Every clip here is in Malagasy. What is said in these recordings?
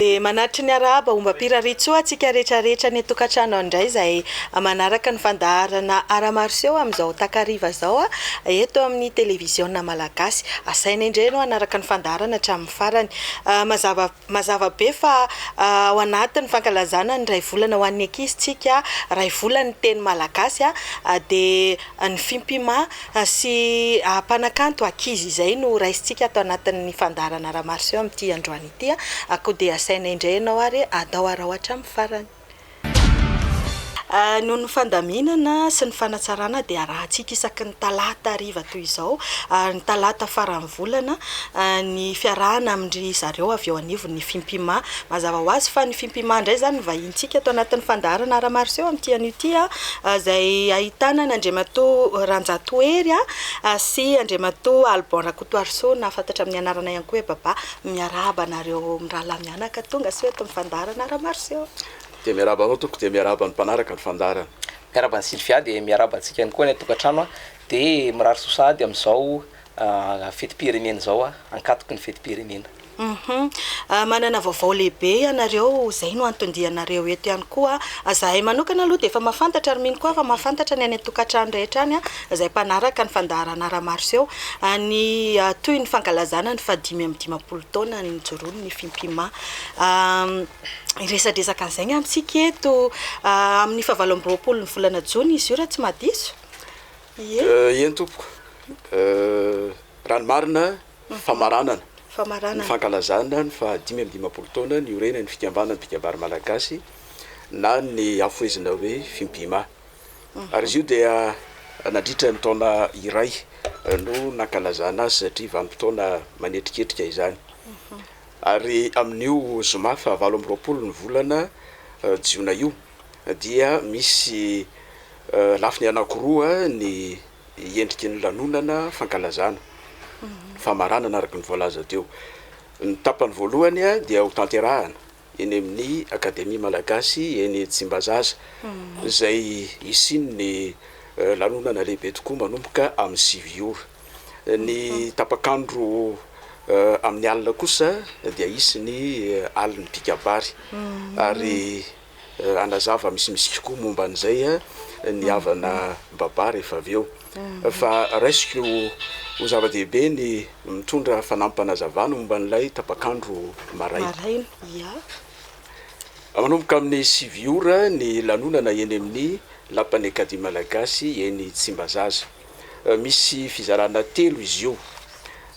Dia manatry ny arahaba ombam-piraritsoa antsika rehetra rehetra any an-tokantrano any indray izay manaraka ny fandaharana Art Martiaux amin'izao takariva izao eto amin'ny Televiziona Malagasy. Asaina indray ianao hanaraka ny fandaharana hatramin'ny. August farany. Mazava mazava be fa ao anatin'ny fankalazana ny iray volana ho an'ny ankizintsika, iray volan'ny teny malagasy, dia ny fimpima sy mpanakanto ankizy izay no raisintsika ato anatin'ny fandaharana Ramaroson amin'ity androany ity. Koa dia asaina indray ianao ary atao araho hatramin'ny farany. Noho ny fandaminana sy ny fanatsarana dia arahantsika isaky ny talata hariva toy izao ary ny talata faran'ny volana ny fiarahana amin-dry zareo avy eo anivon'ny Fimpima. Mazava ho azy fa ny Fimpima indray izany no vahinintsika ato anatin'ny fandaharana Aramariseo amin'ity anio ity izay ahitana an' Andriamatoa Ranjato Hery sy Andriamatoa Alban Rakotoarisoa na fantatra amin'ny anarana ihany koa hoe Baba. Miarahaba anareo mirahalahy mianaka. Mianaka tonga soa eto ny fandaharana Ramaroseau. Dia miarahaba anao tompoko dia miarahaba ny mpanaraka ny fandaharana. Miarahaba an'i Sylvia dia miarahaba antsika ihany koa any an-tokantrano a! Dia mirary soa sahady amin'izao fetim-pirenena izao a! Ankatoky ny fetim-pirenena. Hum! Manana vaovao lehibe ianareo, izay no anton-dianareo eto ihany koa. Izahay manokana aloha dia efa mahafantatra ary mino koa aho fa mahafantatra ny any an-tokantrano rehetra any a! izay mpanaraka ny fandaharana ara-maroseho any toy ny fankalazana ny fahadimy amby dimampolo taona nijoroany ny Fimpima. Hiresadresaka an'izay ny amintsika eto amin'ny fahavalo amby roapolon'ny volana jona izy io raha tsy mahadiso. Ie. Eny tompoko, raha ny marina, famaranana ny fankalazana ny fahadimy amby dimampolo taona niorenan'ny fikambanan'ny mpikabary malagasy na ny hafohezina hoe Fimpima. ary izy io dia nadritra ny taona iray no nankalazana azy satria vanim-potoana manetriketrika izany ary amin'io zoma fahavalo amby roapolo ny volana jiona io dia misy lafiny anankiroa ny endriky ny lanonana fankalazana famaranana araka ny voalaza teo ny tapany voalohany dia hotanterahana eny amin'ny Akademia Malagasy eny Tsimbazaza, izay hisian'ny lanonana lehibe tokoa manomboka amin'ny sivy ora. Ny tapak'andro amin'ny alina kosa dia hisy ny alin'ny mpikabary ary hanazava misimisy kokoa momba an'izay ny havana Baba rehefa avy eo. fa raisiko ho zava-dehibe ny mitondra fanampim-panazavana momba an'ilay tapak'andro maraina. Manomboka amin'ny sivy ora ny lanonana eny amin'ny Lapan'ny Acadie Malagasy eny Tsimbazaza. Misy fizarana telo izy io.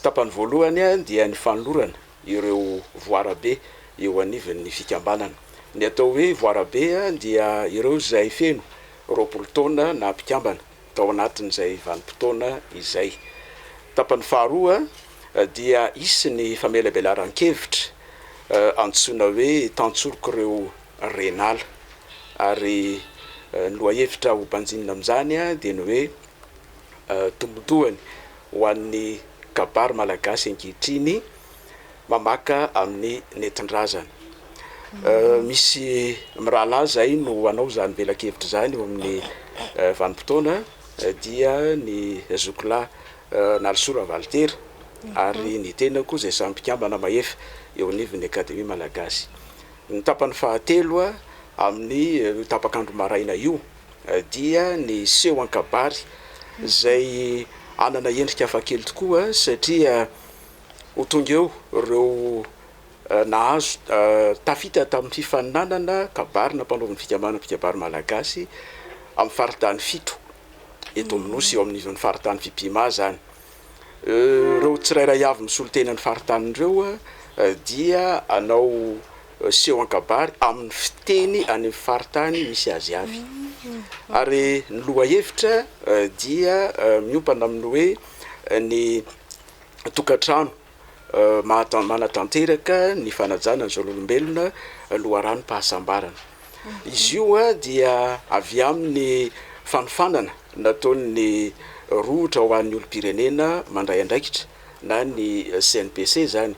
Tapany voalohany dia ny fanolorana ireo voarabe eo anivon'ny fikambanana. Ny atao hoe voarabe dia ireo izay feno roapolo taona na mpikambana. tao anatin'izay vanim-potoana izay. Tapany faharoa dia hisy ny famelabelaran-kevitra antsoina hoe Tantsorok'ireo Ren'ala ary ny lohahevitra hobanjinina amin'izany dia ny hoe Tombotsoany ho an'ny kabary malagasy ankehitriny, mamaka amin'ny nentin-drazana. Misy mirahalahy izay no hanao izany velakevitra izany eo amin'ny vanim-potoana dia ny zokolahy Nalisoa Ravalitera ary ny tenako izay samy mpikambana mahefa eo anivon'ny Akademia Malagasy. Ny tapany fahatelo amin'ny io tapak'andro maraina io dia ny seho an-kabary izay hanana endrika hafakely tokoa satria Ho tonga eo ireo nahazo tafita tamin'ny fifaninanana kabary nampanaovin'ny fikambanana mpikabary malagasy amin'ny faritany fito eto amin'ny Nosy, eo amin'izany faritany Fipima izany. Ireo tsirairay avy misolo tena ny faritany ireo dia hanao seho an-kabary amin'ny fiteny any amin'ny faritany misy azy avy. Ary ny lohahevitra dia miompana amin'ny hoe ny tokantrano manatanteraka ny fanajana ny zon'olombelona loharanom-pahasambarana. Izy io dia avy amin'ny fanofanana nataon'ny rohotra ho an'ny olom-pirenena mandray andraikitra na ny CNPC izany,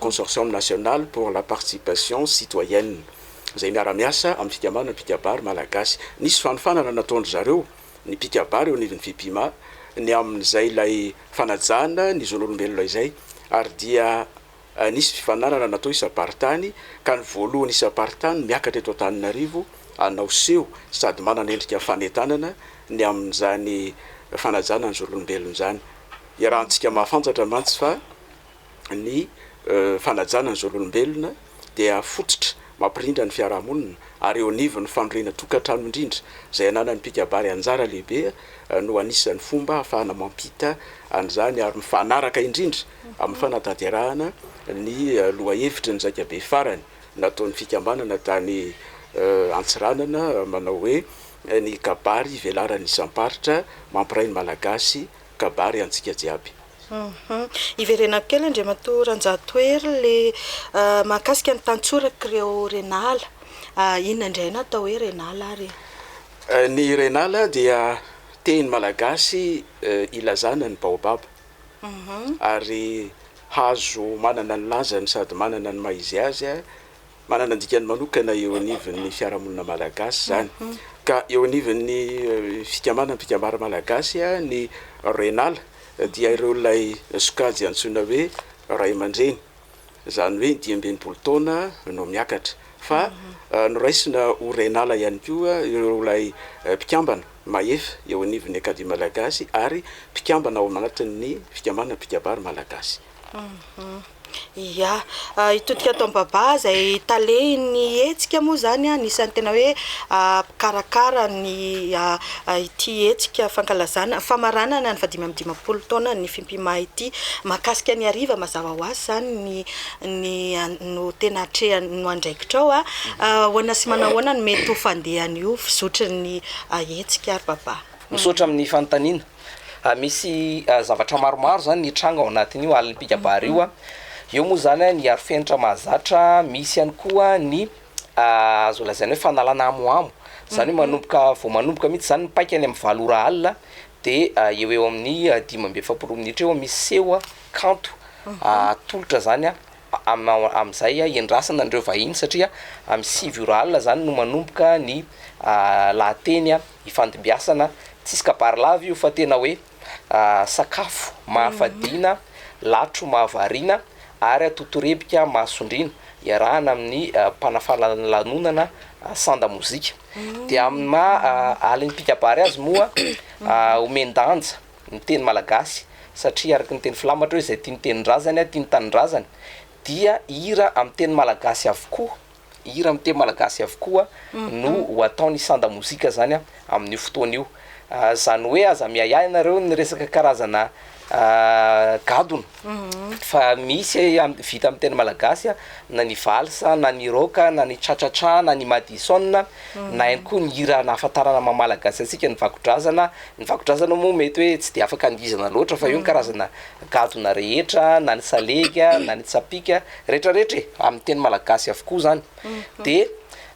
Consortium National pour la Participation Citoyenne, izay miara-miasa amin'ny fikambanana mpikabary malagasy. Nisy fanofanana nataon-dry zareo. ny mpikabary eo anivon'ny Fipima ny amin'izay ilay fanajana ny zon'olombelona izay ary dia nisy fifanarana natao isam-paritany ka ny voalohany isam-paritany miakatra eto Antananarivo hanao seho sady manana endrika fanentanana ny amin'izany fanajana ny zon'olombelona izany. Iarahantsika mahafantsatra mantsy fa. ny fanajana ny zon'olombelona dia fototra mampirindra ny fiarahamonina ary eo anivon'ny fandrohena tokantrano indrindra izay ananan'ny mpikabary anjara lehibe no anisan'ny fomba ahafahana mampita an'izany ary mifanaraka indrindra amin'ny fanatanterahana ny lohahevitry ny zaika be farany nataon'ny fikambanana tany Antsiranana manao hoe ny kabary velaran'ny isam-paritra mampiray ny Malagasy kabary antsika jiaby. Hiverenako kely Andriamatoa Ranjatohery le mahakasika ny tantsorak'ireo Renala. Inona indray no atao hoe Renala ary e? Ny Renala dia teny malagasy ilazana ny baobab ary hazo manana ny lazany sady manana ny maha izy azy Manana ny dikany manokana eo anivon'ny fiarahamonina malagasy izany, ka eo anivon'ny fikambanam-pikambaram malagasy ny Renal dia ireo ilay sokajy antsoina hoe ray aman-dreny, izany hoe dimy amby enimpolo taona no miakatra, fa noraisina ho Renal ihany koa ireo ilay mpikambana mahefa eo anivon'ny Acadie malagasy ary mpikambana ao anatin'ny fikambanam-pikabary malagasy. Ia. Hitodika ato amin'ny babà izay talehin'ny hetsika moa izany, anisan'ny tena hoe mpikarakara ny ity hetsika fankalazana, famaranana ny fahadimy amby dimampolo taonan'ny Fimpima ity. Mahakasika ny hariva mazava ho azy izany ny ny no tena atrehina no andraikitrao. Ahoana sy manao ahoana no mety ho fandehan'io fizotry ny hetsika ary babà? Misaotra amin'ny fanontaniana. Misy zavatra maromaro izany nitranga ao anatin'io alim-pikabary io. Eo moa izany ny arofenitra mahazatra, misy ihany koa ny azo lazaina hoe fanalana hamohamo, izany hoe manomboka, vao manomboka mihitsy izany ny paika any amin'ny valo ora alina dia eo ho eo amin'ny dimy amby efapolo minitra eo misy seho kanto atolotra izany. Amin'izay iandrasana an'ireo vahiny satria amin'ny sivy ora alina izany no manomboka ny lahateny ifandimbiasana, tsisy kabary lava io fa tena hoe sakafo mahafadiana, latro mahavariana ary totorebika mahasondriana iarahana amin'ny mpanafana lanonana sanda mozika. Dia amin'ny maha alim-pikabary azy moa omen-danja ny teny malagasy satria araka ny teny filamatra hoe izay tia ny tenin-drazany, tia ny tanindrazany, dia hira amin'ny teny malagasy avokoa, hira amin'ny teny malagasy avokoa no ho ataon'i Sanda Mozika izany amin'io fotoana io. Izany hoe aza miahiahy ianareo ny resaka karazana gadona. fa misy vita amin'ny teny malagasy na ny valsa na ny rock na ny cha-cha-cha na ny madison na ihany koa ny hira nahafantarana ny maha malagasy antsika ny vakodrazana ny vakodrazana moa mety hoe tsy dia afaka andihizana loatra fa eo ny karazana gadona rehetra na ny salegy na ny tsapìka rehetra rehetra e amin'ny teny malagasy avokoa izany dia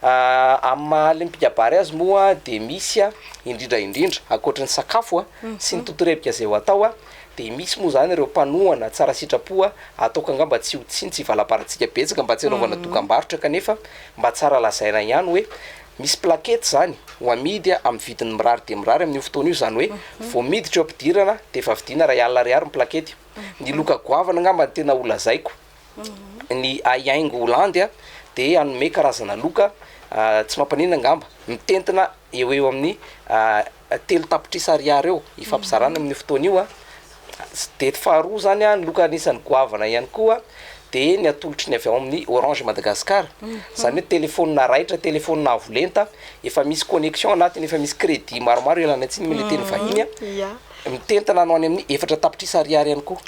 amin'ny maha alim pikabary azy moa dia misy indrindra indrindra ankoatra ny sakafo a sy ny totorebika izay ho atao a Dia misy moa izany ireo mpanohana tsara sitrapoa ataoko angamba tsy ho tsintsy hivalabaratsika betsaka mba tsy hanaovana dokambarotra kanefa mba tsara lazaina ihany hoe misy plaquette izany ho amidy amin'ny vidiny mirary dia mirary amin'io fotoana io izany hoe vao miditra eo ampidirana dia efa vidiana iray alina ariary ny plaquette ny loka goavana angamba no tena holazaiko ny haihaingo ho landy a dia hanome karazana loka tsy mampaninona angamba mitentina eo eo amin'ny Telo tapitrisa ariary eo ifampizarana amin'io fotoana io. Dety faharoa izany ny loka anisan'ny goavana ihany koa dia ny atolotry ny avy ao amin'ny Orange Madagascar, izany hoe telefaonina raitra, telefaonina avo lenta, efa misy connexion anatiny, efa misy crédit maromaro ialana tsiny mila teny vahiny, mitentina no any amin'ny efatra tapitrisa ariary ihany koa.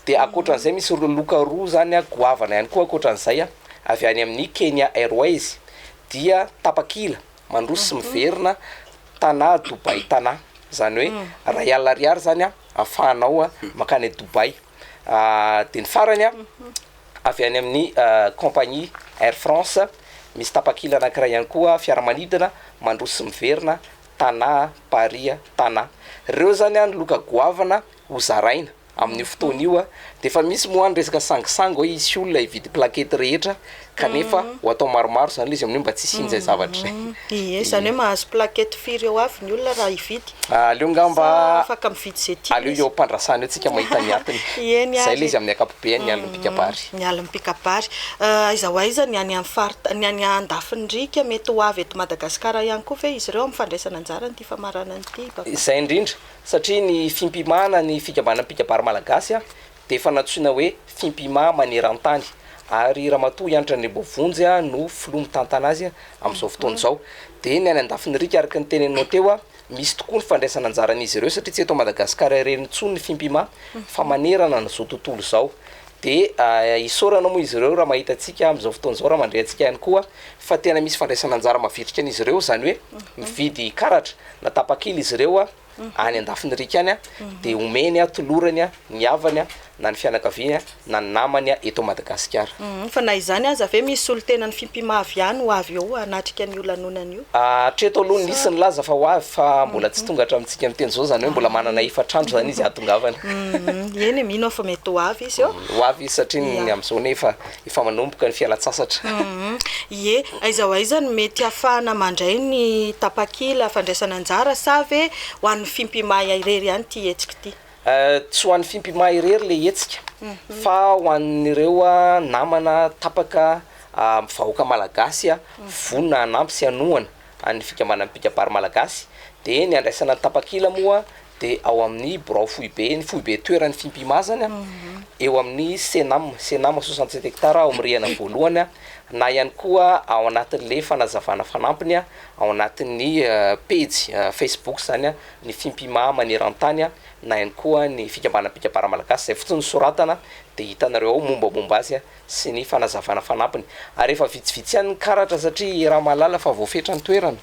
Dia ankoatra an'izay misy loka roa izany goavana ihany koa ankoatra an'izay avy any amin'ny Kenya Airways dia tapakila mandroso sy miverina Tana Dubai Tana zany hoe ray alina ariary zany a afahanao a makany a Dubai a de ny farany a avy any amin'ny compagnie air France misy tapakila anankiray ihany koa fiaramanidina mandroso sy miverina Tana Paris Tana reo zany a ny loka goavana ho zaraina Amin'io fotoana io dia efa misy moa ny resaka sangisangy hoe hisy olona hividy plaquette rehetra kanefa ho atao maromaro izany ilay izy amin'io mba tsy hisian'izay zavatra izay. Ie, izany hoe mahazo plaquette firy eo avy ny olona raha hividy? Aleo angamba, Sa afaka mividy izay tiany aleo izy? eo am-pandrasana eo tsika mahita ny atiny. Eny Izay ary. ilay izy amin'ny ankapobeany ny alin'ny mpikabary. Ny alin'ny mpikabary. Aiza ho aiza ny any amin'ny farita-, ny any andafin'ny riaka? Mety ho avy eto Madagasikara ihany koa ve izy ireo amin'ny fandraisana anjara amin'ity famaranana ity, Papa? Izay indrindra. Satria ny fimpimana ny fikambanana mpikabary malagasy dia efa nantsoina hoe Fimpima maneran-tany ary Ramatoa Hanitra Andriamboavonjy no filoha mitantana azy amin'izao fotoana izao. Dia ny any Andafinirika araka ny teneninao teo misy tokoa ny fandraisana anjaran'izy ireo satria tsy eto Madagasikara irery intsony ny Fimpima fa manerana an'izao tontolo izao. Dia isaorana moa izy ireo raha mahita antsika amin'izao fotoana izao, raha mandre antsika ihany koa fa tena misy fandraisana anjara mavitrika an'izy ireo izany hoe mividy karatra. na tapakila izy ireo any an-dafin'irika any dia omeny, tolorany, ny havany na ny fianakaviany na ny namany eto Madagasikara. Fa na izany aza ve misy solontenan'ny Fimpimavy ihany ho avy eo hanatrika an'io lanonana io? Hatreto aloha nisy nilaza fa ho avy fa mbola tsy tonga hatramintsika miteny izao, izany hoe mbola manana efatr'andro izany izy hahatongavana. Eny e, mino aho fa mety ho avy izy eo. Ho avy izy satria ny amin'izao anie efa Efa manomboka ny fialan-tsasatra. Ie, aiza ho aiza no mety hahafahana mandray ny tapakila fandraisana anjara sa ve ho an'ny Fimpimaia irery ihany ity hetsika ity? Tsy ho an'ny Fimpimaia irery ilay hetsika fa ho an'ireo namana tapaka vahoaka malagasy vonona hanampy sy hanohana an'ny fikambanan'ny mpikabary malagasy. Dia ny handraisana ny tapakila moa. de ao amin'ny birao foibe ny foibe toeran'ny Fimpima zany a, eo amin'ny Cenam, Cenam soixante sept hectares ao amin'ny rihana voalohany a, na ihany koa ao anatin'le fanazavana fanampiny a, ao anatin'ny pejy Facebook zany a, ny Fimpima maneran-tany a, na ihany koa ny fikambanam-pikabara malagasy, zay fotsiny ny soratana de hitanareo ao mombamomba azy a. sy ny fanazavana fanampiny ary efa vitsivitsy ihany ny karatra satria i Ramalala efa voafetra ny toerana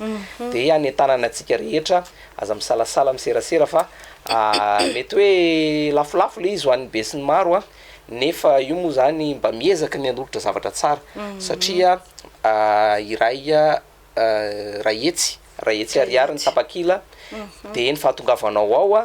dia hanentanana antsika rehetra aza misalasala miserasera fa mety hoe lafolafo ilay izy ho an'ny besinimaro nefa io moa izany mba miezaka ny hanolotra zavatra tsara satria iray Rahetsy Rahetsy Arihary ny tapakila dia ny fahatongavanao ao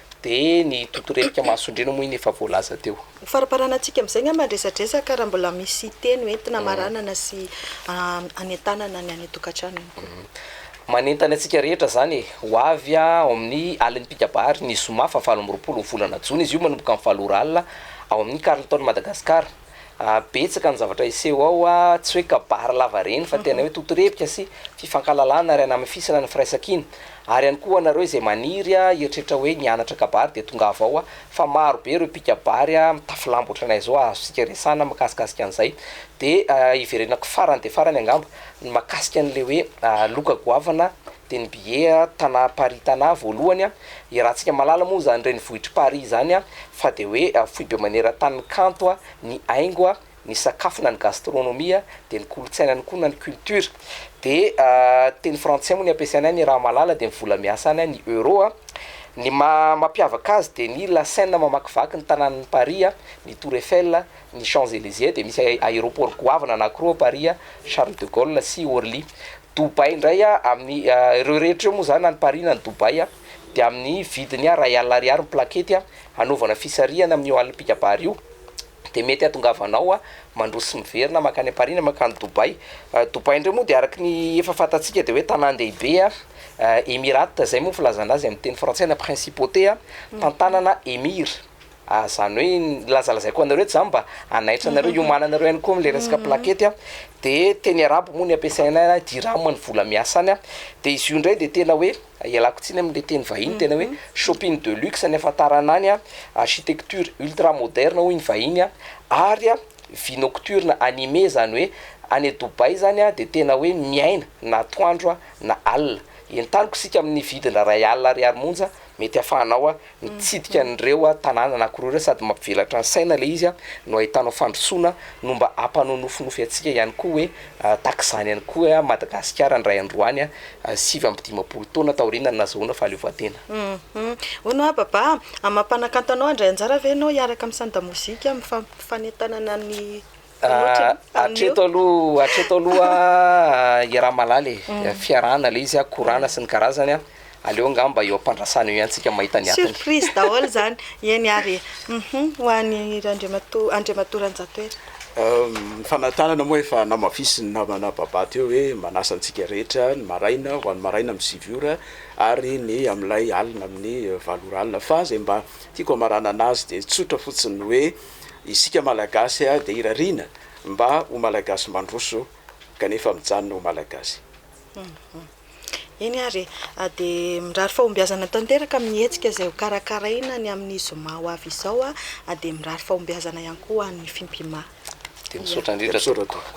Dia ny totorefika mahasoandriana moa iny efa voalaza teo. Ho faraparanantsika amin'izay angamba ny resadresaka raha mbola misy teny hoe entina hamaranana sy hanentanana ny any an-tokantrano ihany koa. Manentana antsika rehetra izany e! Ho avy ao amin'ny Alin'ny Mpikabary ny zoma faha valo amby roapolo volana jona izy io manomboka amin'ny valo ora alina ao amin'ny Carlton Madagascar. Betsaka ny zavatra hiseho ao, tsy hoe kabary lava reny fa tena hoe totorebika sy fifankahalalana ary hanamafisana ny firaisankina. Ary ihany koa ho anareo izay maniry hieritreritra hoe nianatra kabary dia tongava ao fa maro be ireo mpikabary mitafy lamba ohatranay izao azontsika resahana makasikasika an'izay. Dia hiverenako farany dia farany angamba ny makasika an'ilay hoe loka goavana Denbighe, tanàm-paritanà voalohany i Ratsikamalala moa izany renivohitr'i Paris izany fa dia hoe foibe maneran-tany ny kanto, ny haingo, ny sakafo na ny gastronomie dia ny kolontsaina any koa na ny culture dia teny frantsay moa ny ampiasainy any i Ramalala dia ny vola miasa any ny euro, ny maha mampiavaka azy dia ny la seine mamakivaky ny tanànan'i Paris, ny tour Eiffel, ny Champs Elysées dia misy aéroport goavana anakiroa ao Paris, Charles de Gaulle sy Orly. Dubai indray a, amin'ny ireo rehetra ireo moa izany any Paris na any Dubai a, dia amin'ny vidiny a iray alina ariary ny plakety a, hanaovana fisarihana amin'io alin'ny mpikabary io, dia mety hahatongavanao a mandroso miverina mankany am-Paris na mankany Dubai. Dubai indray moa dia araky ny efa fantatsika dia hoe tanàn-dehibe a, Emirate izay moa ny filazana azy amin'ny teny frantsay na principauté a, tantanana emir. Ary izany hoe iny nilazalazaiko anareo tsy izany mba hanaitra anareo hiomananareo ihany koa amin'ilay resaka plakety a, dia teny arabo moa ny ampiasaina any, dirham ny vola miasa any a, dia izy io indray dia tena hoe, ialako tsiny amin'ilay teny vahiny, tena hoe shopping de luxe ny ahafantarana any a, architecture ultra moderne hoy ny vahiny a, ary a vie nocturne animée izany hoe any Dubaï izany a dia tena hoe miaina na atoandro a na alina, entaniko isika amin'ny vidin-dra ray alina ariary monja mety ahafahanao a. Mitsidika an'ireo tanàna anankiroa ireo sady mampivelatra ny saina ilay izy no ahitanao fandrosoana no mba hampanonofinofy antsika ihany koa hoe tahaka izany ihany koa Madagasikara indray andro any sivy amby dimampolo taona taoriana ny nazahoana fahaleovantena. Hono aho Baba a! Amam-panakanto anao handray anjara ve ianao hiaraka amin'ny Sanda Mozika amin'ny fampifanentanana ny Hatreto aloha hatreto aloha i Ramalala e, fiarahana ilay izy a, korana sy ny karazany a, aleo angamba eo am-pandrasana eo ihany tsika mahita ny atiny. Surprise daholo izany, eny ary e. Humm, ho an'i Randriamatoa, Andriamatoa Ranjatoerina. Ny fanatanana moa efa namafisin'ny namana Baba teo hoe manasa antsika rehetra ny maraina ho an'ny maraina amin'ny sivy ora ary ny amin'ilay alina amin'ny valo ora alina fa izay mba tiako hamaranana azy dia tsotra fotsiny hoe Isika Malagasy dia irariana mba ho Malagasy mandroso kanefa mijanona ho Malagasy. Eny ary e! Dia mirary fahombiazana tanteraka amin'ny hetsika izay ho karakaraina ny amin'ny zoma ho avy izao, dia mirary fahombiazana ihany koa ho an'ny Fimpima. Dia misaotra indrindra tompoko.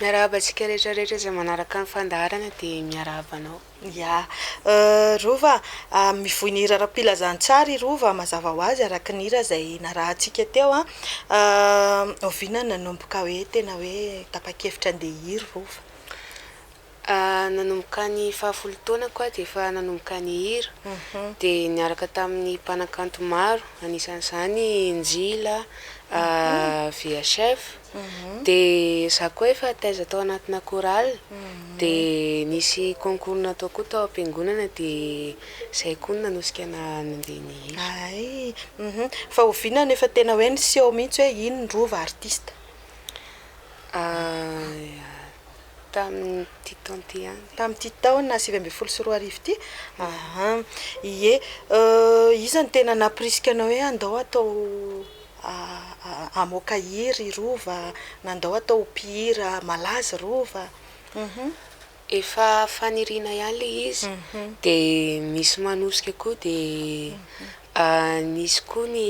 Miarahaba antsika rehetra rehetra izay manaraka ny fandaharana dia miarahaba anao. Ya. Rova a, mivoy ny hira ara-pilazantsara i Rova mazava ho azy araka ny hira izay narahantsika teo an. Oviana no nanomboka hoe tena hoe tapa-kevitra handeha hiry Rova? Nanomboka ny fahafolo taonako aho dia efa nanomboka nihira, dia niaraka tamin'ny mpanakanto maro, anisan'izany i Njila, VHF, dia izaho koa efa taiza tao anatina chorale, dia nisy concours natao koa tao am-piangonana dia izay koa no nanosika anahy nandeha nihira. Hay! Fa oviana no efa tena hoe niseho mihitsy hoe iny no rova artista? Tamin'ity taona ity ihany. Tamin'ity taona sivy ambin'ny folo sy roa arivo ity? Aha, ie. Iza no tena nampirisika anao hoe andao atao hamoaka hira i Rova, na andao atao ho mpihira malaza i Rova? Efa faniriana ihany ilay izy, dia misy manosika koa dia nisy koa ny.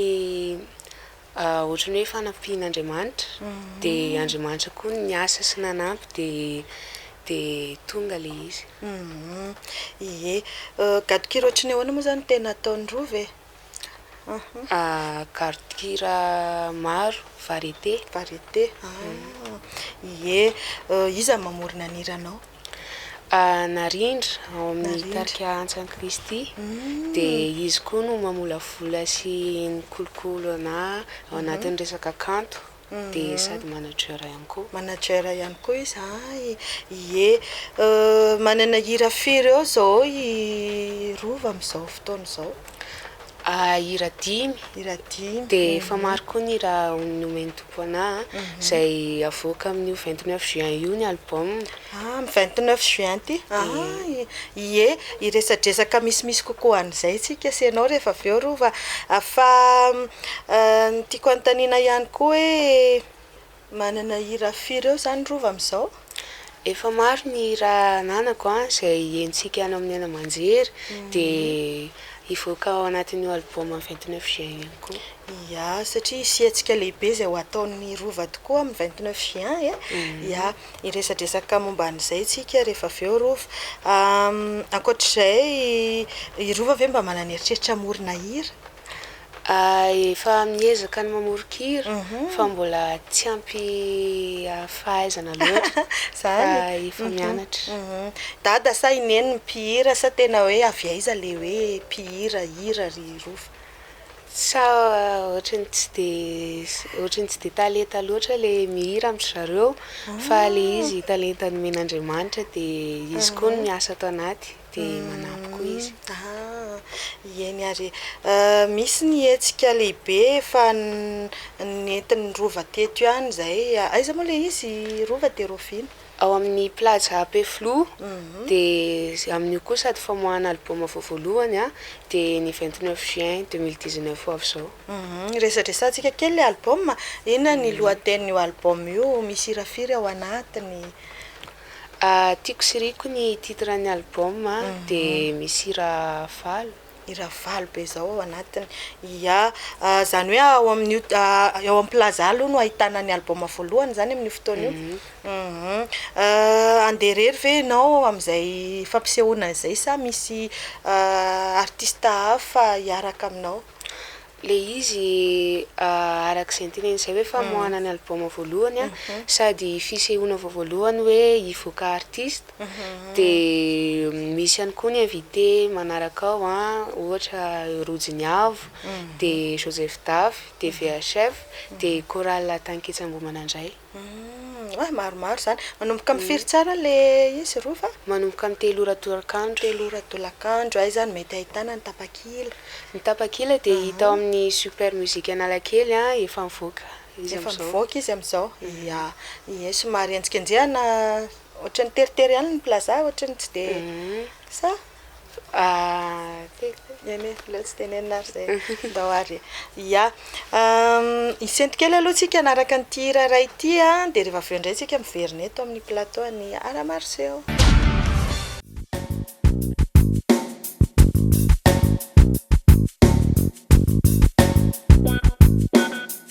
Ohatran'ny hoe fanampian'Andriamanitra, dia Andriamanitra koa no niasa sy nanampy dia dia tonga ilay izy. Ie. Gadon-kira ohatry ny ahoana moa izany no tena ataon'i Rova e? Gadon-kira maro, variété. Variété, ah. Ie. Iza no mamorona ny hiranao? Narindra ao amin'ny tarika Antsan'i Kristy, dia izy koa no mamolavola sy mikolokolo anah ao anatin'ny resaka kanto, dia sady manager ihany koa. Manager ihany koa izy an, ie. Manana hira firy eo izao i Rova amin'izao fotoana izao? A Hira dimy. Hira dimy. Dia efa maro koa ny hira nomen'ny Tompo anà a. Izay havoaka amin'io vingt neuf juin io ny album. Ah, amin'ny vingt neuf juin ity. Ay, ie. Hiresadresaka misimisy kokoa an'izay isika sy ianao rehefa avy eo Rova. Fa ny tiako anontaniana ihany koa hoe Manana hira firy eo zany Rova amizao? Efa maro ny hira ananako an, izay henontsika any amin'ny haino aman-jery dia hivoaka ao anatin'io album vingt neuf juin io koa. Ia, satria hisiantsika lehibe izay ho ataon'i Rova tokoa amin'ny vingt neuf juin e! Ia, hiresadresaka momba an'izay tsika rehefa avy eo Rova. Ankoatr'izay, i Rova ve mba manana eritreritra hamorona hira? Efa miezaka ny mamoron-kira fa mbola tsy ampy fahaizana loatra fa efa mianatra. Dada sa i Neny no mpihira sa tena hoe avy aiza ilay hoe mpihira hira ry Rova? Sa ohatran'ny tsy dia ohatran'ny tsy dia talenta loatra ilay mihira amin-dry zareo fa ilay izy talenta nomen'Andriamanitra dia izy koa no miasa ato anaty. dia manampy koa izy. Ieny ary e! Misy ny hetsika lehibe efa nentin'ny Rova teto ihany izay, aiza moa ilay izy? Rova dia Roviana? Ao amin'ny Plaza Ampefiloha, dia amin'io koa sady famoahana album vao voalohany an, dia ny vingt neuf juin deux mille dix neuf ho avy izao. Resadresantsika kely ilay album, inona ny lohatenin'io album io? Misy hira firy ao anatiny? Tiako sy riko ny titre an'ny album dia misy hira valo. Hira valo be izao ao anatiny. Ia, izany hoe ao amin'io eo amin'ny plaza aloha no ahitana ny album voalohany izany amin'io fotoana io? Handeha irery ve ianao amin'izay fampisehoana izay sa misy artista hafa hiaraka aminao? Ilay izy araka izay noteneniny izay hoe famoahana ny album voalohany sady fisehoana vao voalohany hoe hivoaka artiste dia misy ihany koa ny invité manaraka ao ohatra Rojo ny Avo dia Joseph Dafy dia VHF dia Chorale Tanketsa Ambohimanandray. Humm, maromaro izany. Manomboka amin'ny firy tsara ilay izy, Rova? Manomboka amin'ny telo ora tolakandro. Telo ora tolakandro. Aiza no mety ahitana ny tapakila? Ny tapakila dia hita ao amin'ny Super Music Analakely, efa mivoaka izy amin'izao. Efa mivoaka izy amin'izao, ia. Ie, somary henjikenjehina, ohatran'ny teritery ihany ny plaza, ohatran'ny tsy dia, sa? Hisento kely aloha tsika hanaraka an'ity hira iray ity an, dia rehefa avy eo indray tsika miverina eto amin'ny plateau an'i Ara Maroseho.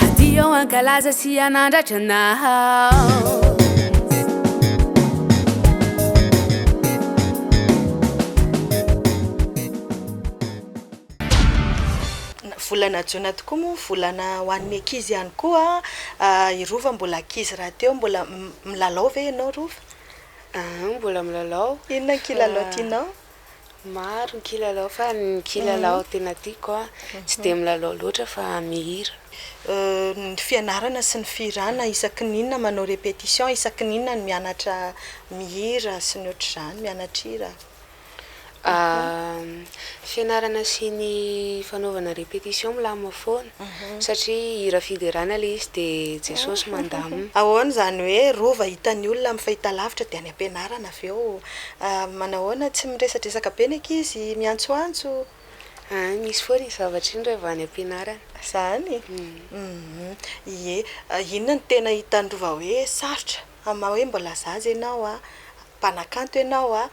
Hadio hankalaza sy hanandratra anao Volana jona tokoa moa volana ho an'ny ankizy ihany koa an! I Rova mbola ankizy rahateo, mbola milalao ve ianao Rova? Mbola milalao. Inona ny kilalao tianao? Maro ny kilalao fa ny kilalao tena tiako a, tsy dia milalao loatra fa mihira. Ny fianarana sy ny fihirana isaky ny inona manao répétition, isaky ny inona no mianatra mihira sy ny ohatr'izany, mianatra hira? Fianarana sy ny fanaovana répétition milamina foana. satria hira fiderana ilay izy dia Jesosy mandamina. Ahoana izany hoe rova hitan'ny olona amin'ny fahitalavitra dia any am-pianarana avy eo? Manahoana tsy miresadresaka be ny ankizy, miantsoantso? Aa, misy foana iny zavatra iny raha vao any am-pianarana. Izany? Ie. Inona no tena hitan'ny rova hoe sarotra? Amin'ny maha hoe mbola zaza ianao, mpanakanto ianao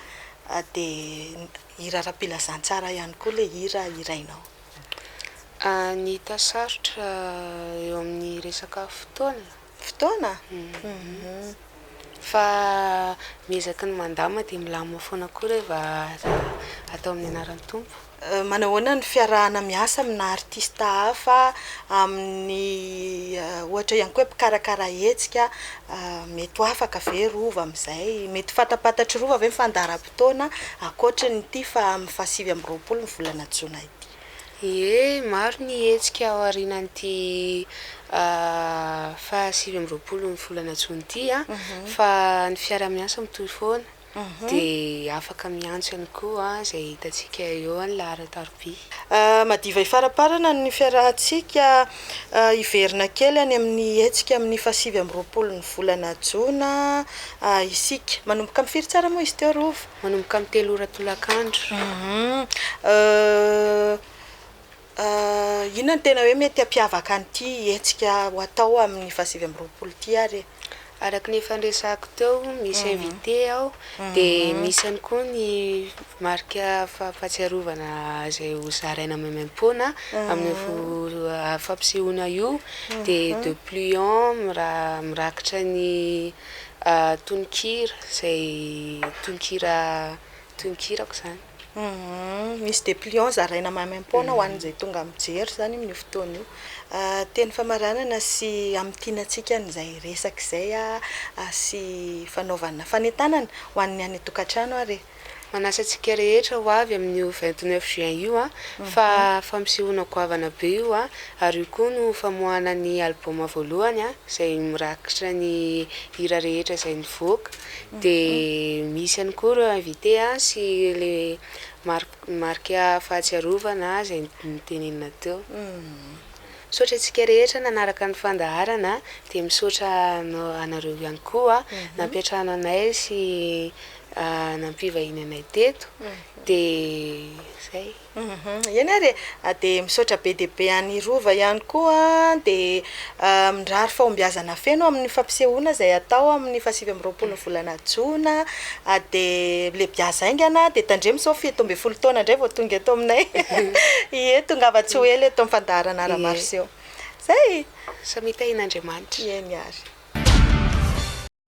dia hira ara-pilazantsara ihany koa ilay hira hirainao. Ny hita sarotra eo amin'ny resaka fotoana? Fotoana? Fa miezaky ny mandamina dia milamina foana koa reva atao amin'ny anaran'ny Tompo. Manao ahoana ny fiarahana miasa amina artista hafa amin'ny ohatra ihany koa hoe mpikarakara hetsika? Mety ho afaka ve rova amin'izay? Mety ho fantampatatry rova ve ny fandaharam-potoana? taona ankoatran'ity fa amin'ny fahasivy amby roapolo ny volana jona ity. Ie, maro ny hetsika ao aorianan'ity fahasivy amby roapolo ny volana jona ity fa ny fiarahamiasa mitohy foana dia afaka miantso ihany koa izay hitantsika eo amin'ny laharan-tarobia. Madiva hifaramparana ny fiarahantsika Hiverina kely any amin'ny hetsika amin'ny fahasivy amby roapolo ny volana jona isika. Manomboka amin'ny firy tsara moa izy teo Rova? Manomboka amin'ny telo ora tolakandro. Inona no tena hoe mety hampiavaka an'ity hetsika ho atao amin'ny fahasivy amby roapolo ity ary e? Araka ny efa niresahako teo, misy invité ao, dia misy ihany koa ny marika fahatsiarovana izay ho zaraina maimaim-poana amin'io fampisehoana io, dia de pluiom mirakitra ny tononkira izay tononkira Toy ny kirako izany. Humm. Misy dépliant zaraina maimaim-poana ho an'izay tonga mijery izany amin'io fotoana io. Teny famaranana sy hamintiana antsika an'izay resaka izay sy fanaovana fanentanana ho an'ny any an-tokantrano ary e. Manasa antsika rehetra ho avy amin'io vingt neuf juin io fa fampisehoana goavana be io ary io koa no famoahana ny album voalohany izay mirakitra ny hira rehetra izay nivoaka. Dia misy ihany koa ireo invité sy ilay marque marika fahatsiarovana izay notenenina teo. Misaotra antsika rehetra nanaraka ny fandaharana dia misaotra anareo ihany koa nampiantrano anay sy nampivahiny anay teto dia izay. Hum eny ary e! Dia misaotra be dia be an'i Rova ihany koa an, dia mirary fahombiazana feno amin'ny fampisehoana izay hatao amin'ny fahasivy amby roapolon'ny volana jona, dia lebiazy haingana, dia tandremo sao fito ambin'ny folo taona indray vao tonga eto aminay, ie tongava tsy ho ela eto amin'ny fandaharana ara-maroseho. Izay! Samia tahin'Andriamanitra. Eny ary.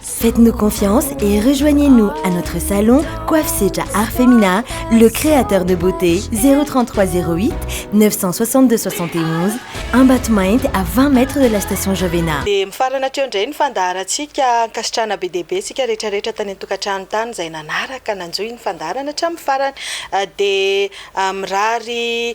Faites-nous confiance et rejoignez-nous à notre salon Coiffe Sedra Art Femina, le créateur de beauté 033 08 962 71 Ambatomainty à 20 mètres de la station Jovena. Dia mifarana hatreo indray ny fandaharantsika. Ankasitrahana be dia be isika rehetra rehetra tany an-tokantrano tany izay nanaraka, nanjohy ny fandaharana hatramin'ny farany. Dia mirary